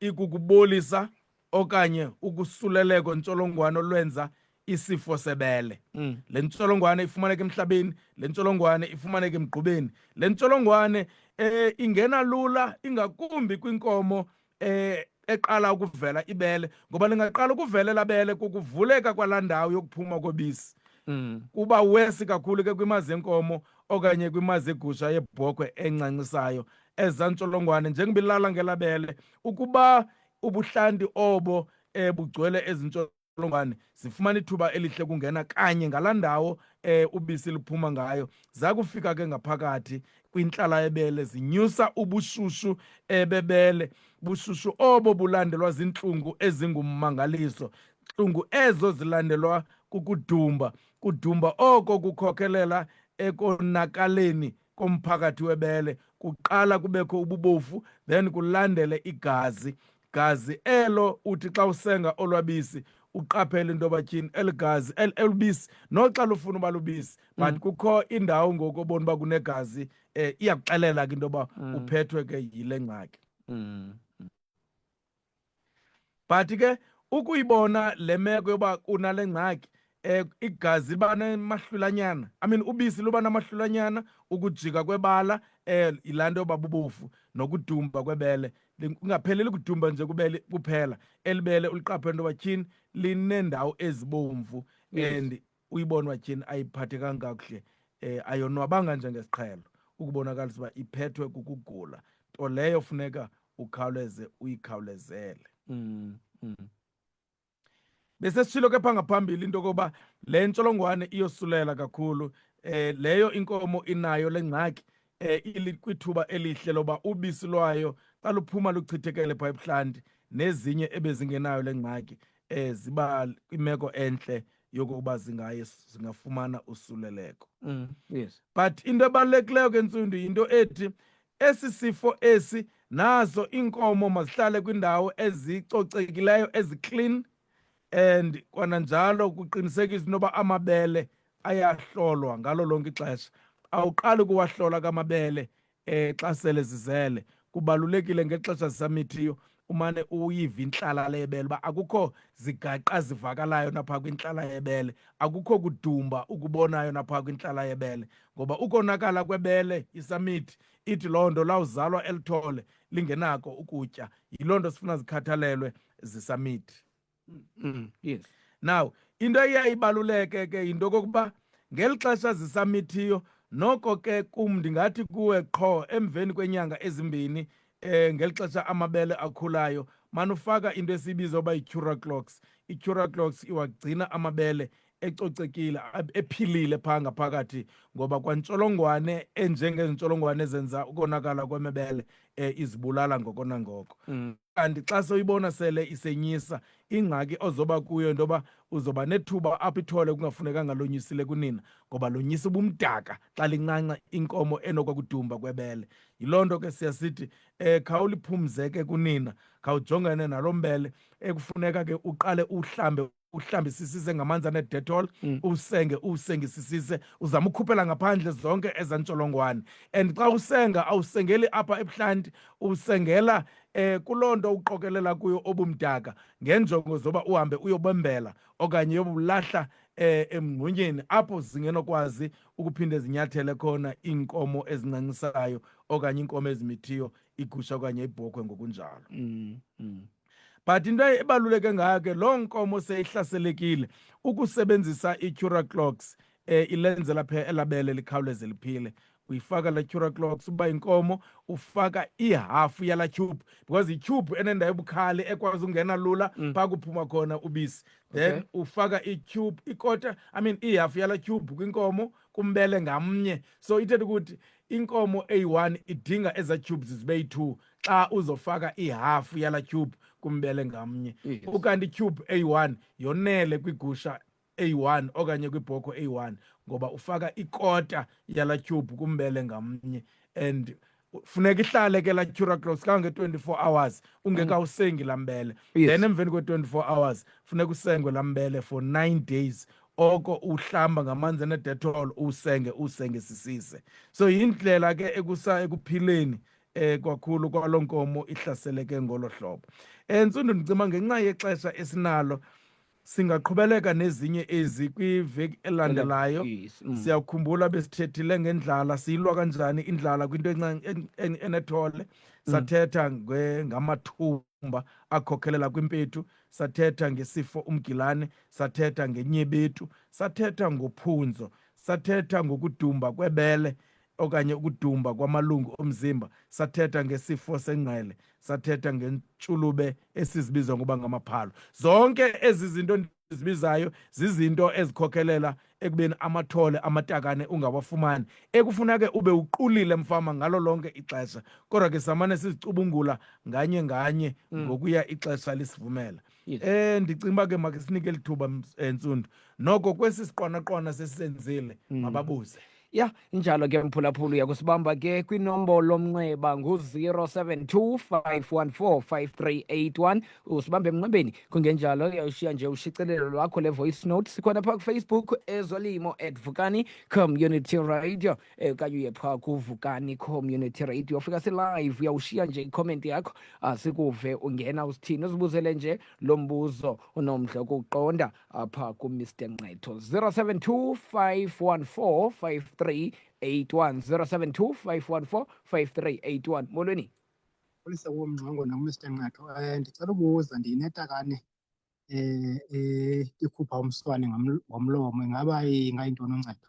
Speaker 3: ikukubolisa okanye ukusuleleko ntsholongwane olwenza isifo sebele mm. le ntsholongwane ifumaneka emhlabeni le ntsholongwane ifumaneka emgqubeni le ntsholongwane eh ingena lula ingakumbi kwinkomo eh eqala ukuvela ibele ngoba lingaqala ukuvela labele kukuvuleka kwalandawo yokuphuma kobisi mm. kuba wesi kakhulu ke kwimazi enkomo okanye kwimazi egusha yebhokhwe encancisayo eza ntsholongwane njengoba ilala ngelabele ukuba ubuhlanti obo um bugcwele ezi ntsholongwane zifumana ithuba elihle kungena kanye ngalaa ndawo um ubisi liphuma ngayo zakufika ke ngaphakathi kwintlala ebele zinyusa ubushushu ebebele bushushu obo bulandelwa ziintlungu ezingummangaliso ntlungu ezo zilandelwa kukudumba kudumba oko kukhokelela ekonakaleni komphakathi webele kuqala kubekho ububofu then kulandele igazi gazi elo uthi xa usenga olwabisi uqaphele into yoba tyhini eli gazi elubisi noxa lufuna uba lubisi but mm. kukho indawo ngoku obona uba kunegazi um eh, iyakuxelela ke into yoba mm. uphethwe ke yile ngxaki mm. but ke ukuyibona le meko yoba kunale ngxaki eh igazi liba namahlulanyana i mean ubisi luba namahlulanyana ukujika kwebala eh yilaa nto yoba bubofu nokudumba kwebele kungapheleli kudumba nje kubele kuphela elibele uliqaphe nto batyhini lineendawo ezibomvu and
Speaker 1: uyibonwa
Speaker 3: tyhini ayiphathekanga kakuhle um ayonwabanga njengesiqhelo ukubonakalisa uba iphethwe kukugula nto leyo funeka ukhawuleze uyikhawulezele mm, mm. besesishilo kepha ngaphambili into yokoba le ntsholongwane iyosulela kakhulu um leyo inkomo inayo le ngxaki eh, ilikwithuba elihle loba ubisi lwayo xa luphuma luchithekele phaa ebuhlanti nezinye ebezingenayo le ngxaki eh, ziba kwimeko entle yokokuba zingaye zingafumana usuleleko mm, yes.
Speaker 1: but into
Speaker 3: ebalulekileyo ke ntsundu yinto ethi esi sifo esi nazo iinkomo mazihlale kwiindawo ezicocekileyo eziclean and kwananjalo kuqinisekisa into yoba amabele ayahlolwa ngalo lonke ixesha awuqali ukuwahlola kamabele um xa sele zizele kubalulekile ngexesha zisamithiyo umane uyiva intlala lebele uba akukho zigaqa zivakalayo napha kwintlala yebele akukho kudumba ukubonayo napha kwintlala yebele ngoba ukonakala kwebele isamithi ithi loo nto lawuzalwa elithole lingenako ukutya yiloo nto sifuna zikhathalelwe zisamithi
Speaker 1: mm, yes
Speaker 3: now into eyayibaluleke ke yinto okokuba ngeli xesha zisamithiyo noko ke kum ndingathi kuwe qho emveni kwenyanga ezimbini eh ngeli xesha amabele akhulayo manufaka into esiyibiza uba yi-cura clocks i-cura clocks iwagcina amabele ecocekile ephilile phaa ngaphakathi ngoba kwantsholongwane enjengezintsholongwane ezenza ukonakala kwemebele um izibulala ngoko nangoko mm. kanti mm. xa sewuyibona sele isenyisa ingxaki ozoba kuyo into yoba uzoba nethuba apho ithole kungafunekanga lonyisile kunina ngoba lonyisa ubumdaka xa lincanca inkomo enokwakudumba kwebele yiloo nto ke siya sithi um khawuliphumzeke kunina khawujongene naloo mbele ekufuneka ke uqale uhlambe uhlambisisise ngamanzi anedetol mm. usenge usengisisise uzama ukhuphela ngaphandle zonke ezantsholongwane and xa usenga awusengeli apha ebuhlanti usengela eh kuloo nto uqokelela kuyo obumdaka ngenjongo zoba uhambe uyobembela okanye yobulahla eh emngxunyeni apho zingenokwazi ukuphinde zinyathele khona iinkomo ezincancisayo okanye iinkomo ezimithiyo igusha okanye ibhokhwe ngokunjalo mm, mm. but into ebaluleke ngayo ke loo nkomo seyihlaselekile ukusebenzisa i-cura clocks um ilenzela phe elabele likhawuleze liphile uyifaka la cura clocks uba inkomo ufaka ihafu yala tube because itube enendawo ebukhali ekwazi ukungena lula mm. phaa kuphuma khona ubisi then okay. ufaka itube ikota i mean ihafu yala tube kwinkomo kumbele ngamnye so ithetha ukuthi inkomo eyi-one idinga eza tubes zibe yi-two xa uzofaka ihafu yala tyhubhu kumbele ngamnye yes. ukanti ityhubhu eyi-one yonele kwigusha eyi-one okanye kwibhoko eyi-one ngoba ufaka ikota yala tyhubhu kumbele ngamnye and funeka ihlale ke la curacross kange-24 hours ungekawusengi mm. laa mbele yes. then emveni kwe-24 hours funeka usengwe laa mbele for nine days oko uhlamba ngamanzi enedetol usenge usenge sisise so yindlela ke ekusa ekuphileni eh kwakhulu kwalonkomo ihlaseleke ngolo hlobo entsundu eh, ndicima ngenxa yexesha esinalo singaqhubeleka nezinye ezi kwiveki elandelayo mm. siyakhumbula besithethile ngendlala siyilwa kanjani indlala kwinto enethole mm. sathetha ngamathumba akhokhelela kwimpethu sathetha ngesifo umgilane sathetha ngenyebethu sathetha ngophunzo sathetha ngokudumba kwebele okanye ukudumba kwamalungu omzimba sathetha ngesifo sengqele sathetha ngentshulube esizibiza ngoba ngamaphalo zonke ezi zinto ndizibizayo zizinto ezikhokhelela ekubeni amathole amatakane ungawafumani ekufuna ke ube uqulile mfama ngalo lonke ixesha kodwa ke samane sizicubungula nganye nganye mm. ngokuya ixesha lisivumela mm. yes. eh ndicinga uba ke make sinike lithuba eh, ntsundu noko kwesi siqwanaqwana sesisenzile mm. mababuze ya injalo
Speaker 1: ke mphulaphula uyakusibamba ke kwinombolo omnxeba ngu-072 usibambe emnxebeni kungenjalo uyawushiya nje ushicelelo lwakho le-voice note sikhona phaa kufacebook ezolimo at vukani community radio eh, okanye uye phaa kuvukani community radio ufika silive uyawushiya nje icomment yakho asikuve ungena usithini uzibuzele nje lo mbuzo unomdla ukuqonda apha kumr nqetho 072 514 53 81 072 514 5381 molweni polisa
Speaker 5: womngqongo nomr nqetho um eh, ndicela ubuza ndiyinetakane um ikhupha umswane ngomlomo ingaba ingayintoni uncedo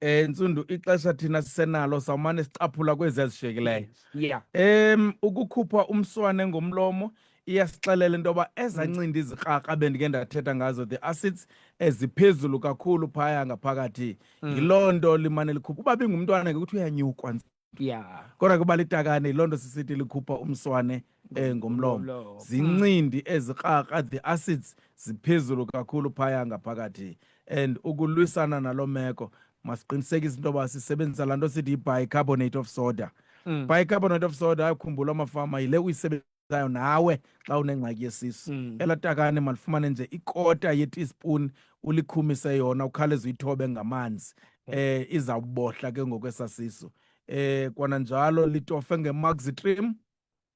Speaker 1: eh ntsundu
Speaker 3: ixesha thina sisenalo sawumane sicaphula kwezi ezishiyekileyo yeah em ukukhupha umswane ngomlomo iyasixelela into yoba ezancindi izikraka bendike ndathetha ngazo the acids eziphezulu kakhulu phaya ngaphakathi mm. yiloo nto limane likhupha uba bingumntwana ngekuthi uyanyukwa ya kodwa kuba litakane loo nto sisithi likhupha umswane um ngomlomo Ngomlomo. zincindi ezikrarha the acids ziphezulu kakhulu phaya ngaphakathi and ukulwisana naloo meko masiqinisekise into yoba sisebenzisa laa nto sithi yi-bicarbonate of soda Mm. bicarbonate of soda ayakhumbula amafama yile uyisebenzisa zayo nawe xa unengxaki yesisu mm. ela takane malifumane nje ikota yeteaspoon ulikhumise yona ukhawuleze uyithobe ngamanzi mm. eh izawubohla ke ngokwesasiso eh kwana njalo litofe ngemaxitrim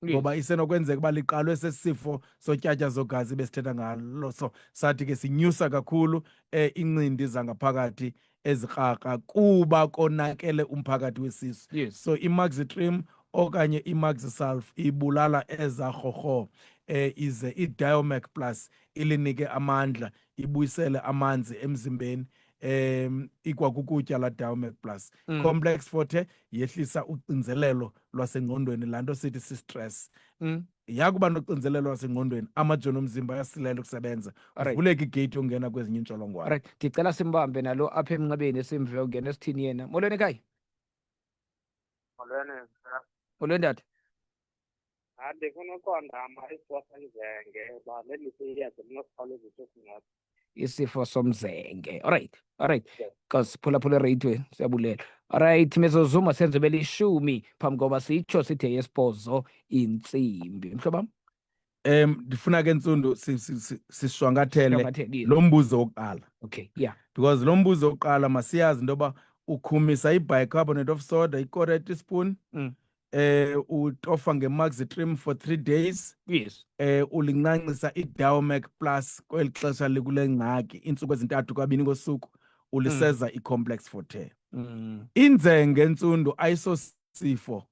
Speaker 3: ngoba isenokwenzeka uba liqalwe sesifo sotyatya zogazi besithetha ngalo so sathi ke sinyusa kakhulu eh incindi zangaphakathi ezikraka kuba konakele umphakathi wesisu yes. so imaxitrim okanye imaxisulf ibulala eza rhorho eh ize idiomac plus ilinike amandla ibuyisele amanzi emzimbeni um ikwakukutya la diomac plus mm. complex forte yehlisa ucinzelelo lwasengqondweni laa nto sithi sistress mm. yakuba noxinzelelo lwasengqondweni amajoni omzimba ayasilela ukusebenza Alright. kuvuleka igeyiti yokungena kwezinye iintsholongwane Alright, ndicela simbambe
Speaker 1: nalo apha emnxebeni simve ungena esithini yena. Molweni ekhaya. Molweni, mna. Molweni tata. Hayi,
Speaker 6: ndifuna uqonda ama isiposa izenge uba leliphi iyeza elinokukhawulezisa
Speaker 1: usingathi.
Speaker 6: isifo somzenge
Speaker 1: alright
Speaker 6: alright because
Speaker 1: phulaphula ereyithwe siyabulela alright mezozuma senze belishumi phambi koba sitsho sithe yesibhozo intsimbi mhlobam um ndifuna
Speaker 3: ke ntsundu sishwankathele lo
Speaker 1: mbuzo wokuqala
Speaker 3: okay yeah
Speaker 1: because lo mbuzo
Speaker 3: wokuqala masiyazi into yoba ukhumisa ibicarbonate of soda ikora teaspoon mm. eh
Speaker 1: utofa
Speaker 3: ngemaxitrim for three days yes eh
Speaker 1: ulincancisa
Speaker 3: idowmac plus kweli xesha likule ngxaki iintsuku ezintathu kabini kosuku uliseza mm. i-complex forte mm. inzenge ntsundu ayisosifo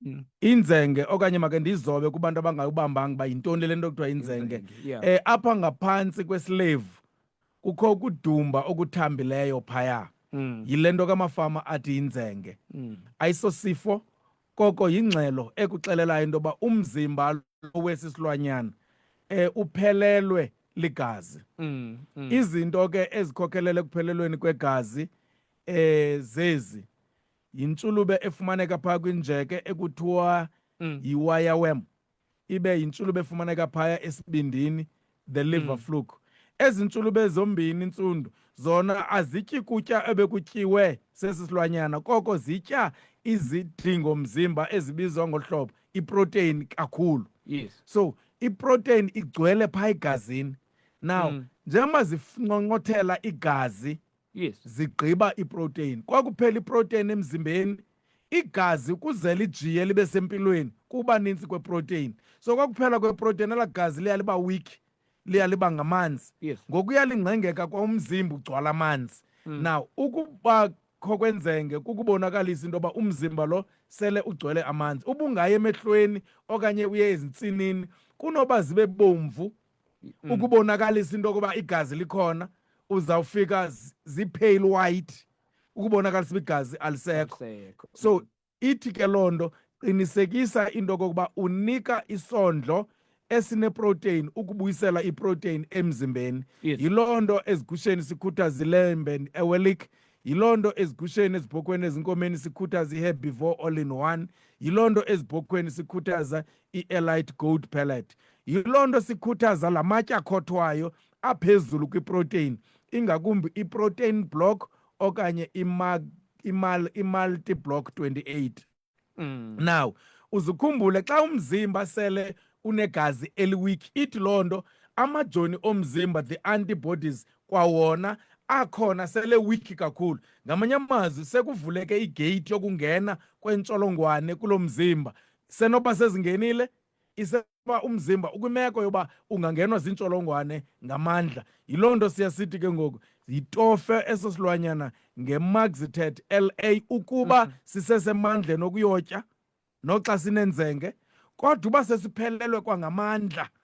Speaker 3: mm. inzenge okanye make ndizobe kubantu abangayubambanga uba yintoni le nto kuthiwa inzenge um eh, apha
Speaker 1: ngaphantsi
Speaker 3: kwesilevu kukho ukudumba okuthambileyo phaya mm. yile nto kamafama athi yinzenge mm. ayisosifo koko yingxelo ekuxelelayo into yoba umzimba wesi silwanyana um uphelelwe ligazi mm, mm. izinto ke ezikhokhelela ekuphelelweni kwegazi eh zezi yintsulube efumaneka phaa kwinjeke ekuthiwa mm. yiwayawem ibe yintshulube efumaneka phaya esibindini the liver mm. fluke ezi ntshulube zombini ntsundu zona azityi kutya ebekutyiwe sesi silwanyana koko zitya izidingo mzimba ezibizwa ngohlobo iprotein kakhulu yes. so
Speaker 1: iprotein
Speaker 3: igcwele phaa egazini now mm. njengoba zifunqonqothela igazi yes
Speaker 1: zigqiba
Speaker 3: iprotein kwakuphela iprotein emzimbeni igazi kuze lijiye libe sempilweni kuba ninzi kweprotein so kwakuphela kweprotein ela gazi liya liba weak liya liba ngamanzi yes ngokuya
Speaker 1: lingcengeka
Speaker 3: kwaumzimba ugcwala amanzi mm. now ukuba kho kwenzenge kukubonakalisa into yoba umzimba lo sele ugcwele amanzi ubungayi emehlweni okanye uye ezintsinini kunoba zibe bomvu mm. ukubonakalisa into yokuba igazi likhona uzawufika zii-pale white ukubonakalisa uba igazi alisekho so ithi ke loo nto qinisekisa into yokokuba unika isondlo esineprotein ukubuyisela iprotein emzimbeni yes. yiloo nto
Speaker 1: ezigusheni
Speaker 3: sikhutha zilembe ewelik yiloo nto ezigusheni ezibhokhweni ezinkomeni sikhuthaza i-herbivore all in one yiloo nto ezibhokhweni sikhuthaza i-elite gold pellet yiloo nto sikhuthaza la matye akhothwayo aphezulu kwiprotein ingakumbi iprotein block okanye i-multi block 28 mm. now uzukhumbule xa umzimba sele unegazi eliwiki ithi loo nto amajoni omzimba the antibodies kwawona akhona sele wiki kakhulu ngamanye amazwi sekuvuleke igate yokungena kwentsholongwane kulo mzimba Isenoba sezingenile, isenoba umzimba ukwimeko yoba ungangenwa ziintsholongwane ngamandla. Yiloo nto siya sithi ke ngoku yitofe eso silwanyana ngemaxitet LA ukuba mm-hmm. sisesemandleni okuyotya noxa sinenzenge kodwa uba sesiphelelwe kwangamandla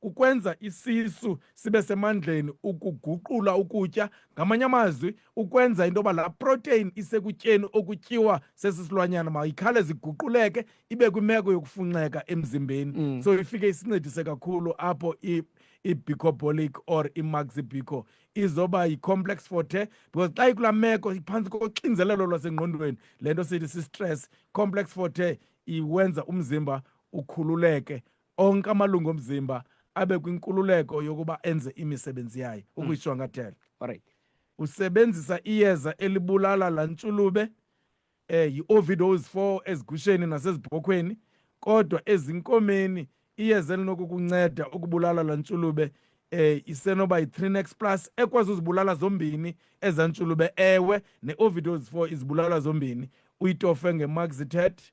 Speaker 3: kukwenza isisu sibe semandleni ukuguqula ukutya ngamanye amazwi ukwenza into yoba laa protein isekutyeni okutyiwa sesi silwanyana mayikhale ziguquleke ibe kwimeko yokufunxeka emzimbeni mm. so ifike isincedise kakhulu apho ibicobolic or imaxibico izoba yi-complex forte because xa ikula meko iphantsi koxinzelelo lwasengqondweni le nto sithi si-stress complex forte iwenza umzimba ukhululeke onke amalungu omzimba abe kwinkululeko yokuba enze imisebenzi yayo hmm. ukuyishwankathela right
Speaker 1: usebenzisa
Speaker 3: iyeza elibulala la ntshulube eh yi-overdose for ezigusheni nasezibhokhweni kodwa ezinkomeni iyeza elinokukunceda ukubulala la ntshulube eh isenoba yi-trinex plus ekwazi uzibulala zombini eza ntshulube ewe ne-overdose for izibulala zombini uyitofe ngemaxitet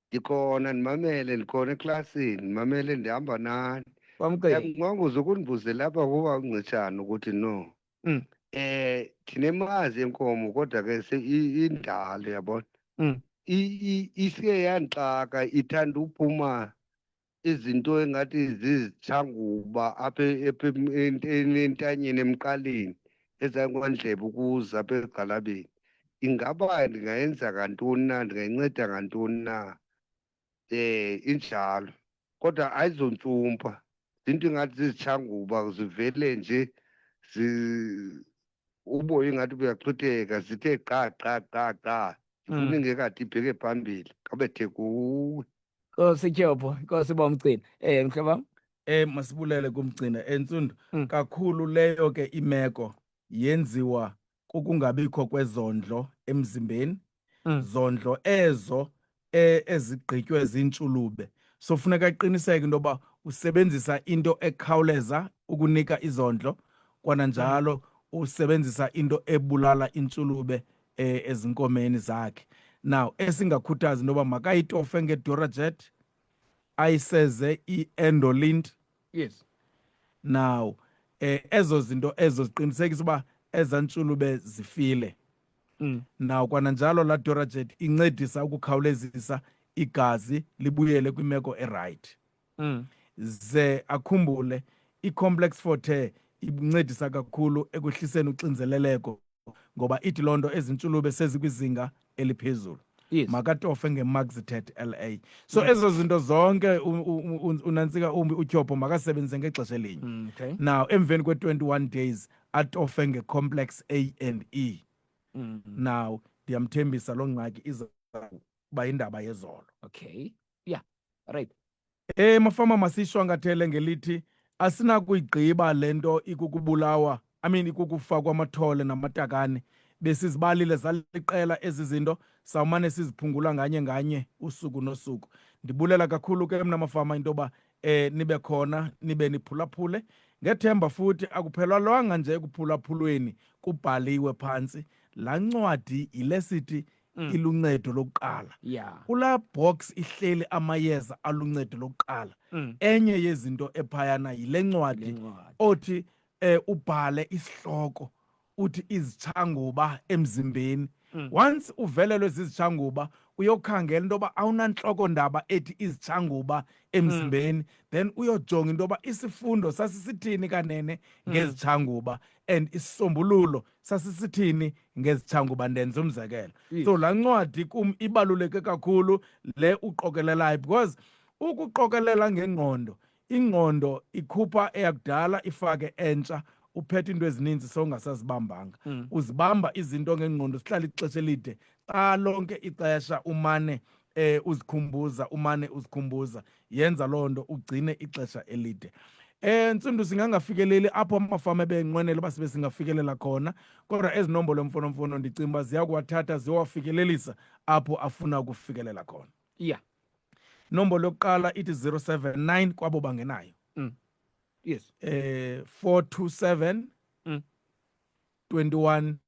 Speaker 7: ndikhona ndimamele ndikhona eklasini ndimamele ndihamba nani kwamkeli
Speaker 1: yamnqongoza
Speaker 7: ukundibuzela apha kuba uncitshana ukuthi no Mm. eh ndinemazi yenkomo kodwa ke se- i- indalo yabona Mm. I-
Speaker 1: i- isiye
Speaker 7: yandixaka ithanda uphuma izinto engathi zizitshanguba apha entanyeni emqaleni ezangondlebe ukuza apha egxalabeni ingaba ndingayenza ngantoni na ndingayinceda ngantoni na um injalo kodwa ayizontsumpa zinto ingathi zizitshanguba zivele nje uboya ingathi buyaxhitheka zithe qa qa qa qa zifuna ingekade ibheke phambili kabethe kuwe Nkosi Tyobho,
Speaker 1: Nkosi bomgcina. Eh mhle bam. Eh masibulele
Speaker 3: kumgcina entsundu. Mm. Kakhulu
Speaker 1: leyo ke
Speaker 3: imeko yenziwa kukungabikho kwezondlo emzimbeni. Mm. Zondlo ezo eh, ezigqitywe zintshulube. So funeka aqiniseke into yoba usebenzisa into ekhawuleza ukunika izondlo kwananjalo usebenzisa into ebulala intshulube eh, ezinkomeni zakhe now esingakhuthazi into yoba makayitofe ngedorajet ayiseze i-endolint yes
Speaker 1: now
Speaker 3: eh ezo zinto ezo ziqinisekisa uba eza ntshulube zifile mm. now kwananjalo la dorajet incedisa ukukhawulezisa igazi libuyele kwimeko erayithi mm. ze akhumbule i-complex forte incedisa kakhulu ekwehliseni uxinzeleleko ngoba ithi loo nto ezintshulube sezikwizinga eliphezulu yes. makatofe
Speaker 1: ngemaxitet
Speaker 3: la so yes. ezo zinto zonke unantsika umbi utyhopho makasebenzise ngexesha elinye mm, okay. now emveni
Speaker 1: kwe-21
Speaker 3: days atofe ngecomplex a and e mm. now ndiyamthembisa loo ngxaki iza uba yindaba yezolo okay
Speaker 1: yeah right Eh mafama
Speaker 3: masishwankathele ngelithi asinakuyigqiba lento ikukubulawa I mean ikukufakwa amathole namatakane besizibalile zaliqela ezi zinto sawumane siziphungula nganye nganye usuku nosuku ndibulela kakhulu ke mna mafama into yoba eh nibe khona nibe niphulaphule ngethemba futhi akuphelwalwanga nje ekuphulaphulweni kubhaliwe phantsi laa ncwadi yile sithi mm. iluncedo lokuqala yeah. kulaa
Speaker 1: box
Speaker 3: ihleli amayeza aluncedo lokuqala mm. enye yezinto ephayana yile ncwadi othi eh, ubhale isihloko uthi izitshanguba emzimbeni mm. once uvelelwe zizitshanguba uyokhangela into yoba awunantloko ndaba ethi izitshanguba emzimbeni mm. then uyojonga into yoba isifundo sasisithini kanene mm. ngezitshanguba and isisombululo sasisithini ngezitshangu uba ndenza umzekelo Yes. so laa ncwadi kum ibaluleke kakhulu le uqokelelayo because ukuqokelela ngengqondo ingqondo ikhupha eyakudala ifake entsha uphethe into ezininzi sowungasazibambanga Mm. uzibamba izinto ngengqondo sihlala ixesha elide xa lonke ixesha umane eh uzikhumbuza umane uzikhumbuza yenza loo nto ugcine ixesha elide eh ntsundu singangafikeleli apho amafama ebenqwenela uba sibe singafikelela khona kodwa ezi nombolo mfonomfono ndicinga uba ziya kuwathatha ziyowafikelelisa apho afuna ukufikelela khona yeah
Speaker 1: nombolo
Speaker 3: yokuqala ithi 079 kwabo bangenayo mm.
Speaker 1: yes eh
Speaker 3: 427 mm. 21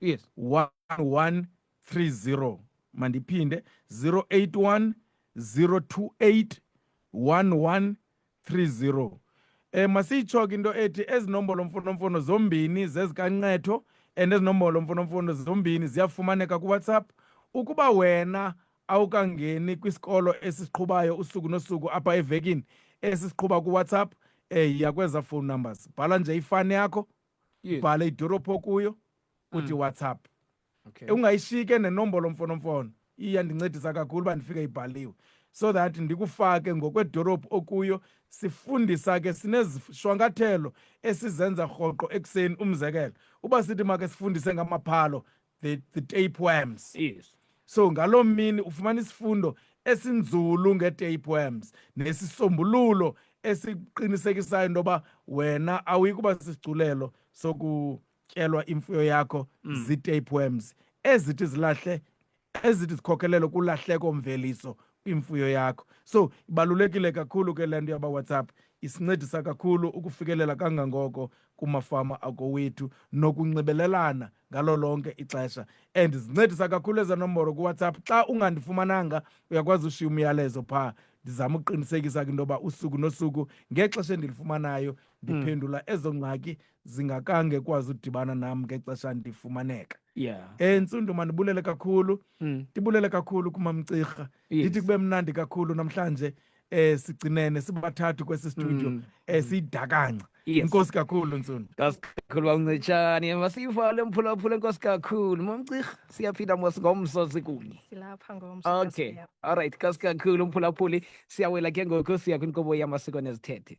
Speaker 1: yes 1130
Speaker 3: mandiphinde 081 028 1130 eh masitsho ke into ethi ezinombolo mfonomfono zombini zezikancetho and ezinombolo mfonomfono zombini ziyafumaneka kuwhatsapp ukuba wena awukangeni kwisikolo esiqhubayo usuku nosuku apha evekini esisiqhuba kuwhatsapp eh yakweza phone numbers bhala nje ifani yakho Yes. ubhale idorobhu okuyo uthi Mm. whatsapp Okay.
Speaker 1: ungayishike nenombolo
Speaker 3: mfonomfono iyandincedisa kakhulu uba ndifike ibhaliwe so that ndikufake ngokwedorobhu okuyo sifundisa ke sinezishwankathelo esizenza rhoqo ekuseni umzekelo uba sithi make sifundise ngamaphalo the, the tapeworms yes
Speaker 1: so ngaloo
Speaker 3: mini ufumana isifundo esinzulu nge-tapeworms nesisombululo esiqinisekisayo into yoba wena awuyi kuba sisigculelo sokutyelwa imfuyo yakho mm. zii-tapeworms ezithi zilahle ezithi zikhokelelo kulahleko mveliso kwimfuyo yakho so ibalulekile kakhulu ke le nto yabawhatsapp isincedisa kakhulu ukufikelela kangangoko kumafama akowethu nokunxibelelana ngalo lonke ixesha and zincedisa kakhulu eza nomboro kuwhatsapp xa ungandifumananga uyakwazi ushiya umyalezo phaa ndizama ukuqinisekisa kwinto yoba usuku nosuku ngexesha endilifumanayo ndiphendula hmm. ezo ngxaki zingakange kwazi udibana nam ngexesha ndifumaneka yeah. Eh,
Speaker 1: ntsundu mandibulele
Speaker 3: kakhulu mm. ndibulele kakhulu kumamcirha ndithi yes. kube mnandi kakhulu namhlanje eh sigcinene sibathathu kwesi studio mm. eh sidakanca yes. inkosi
Speaker 1: kakhulu ntsuno
Speaker 3: nkosi kakhulu
Speaker 1: bamncetshane masiyivale mphulaphula inkosi kakhulu mamcirha siyaphinda mos ngomso sikunye silapha ngomso
Speaker 2: okay all right
Speaker 1: nkosi kakhulu mphulaphuli siyawela ke ngoku siya kwinkobo yamasiko nezithethe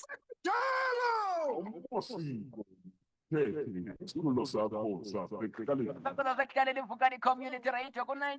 Speaker 8: Kudala!
Speaker 1: Kulo sakho sakhe kale. Kulo sakhe kale livuka ni community right. Kuna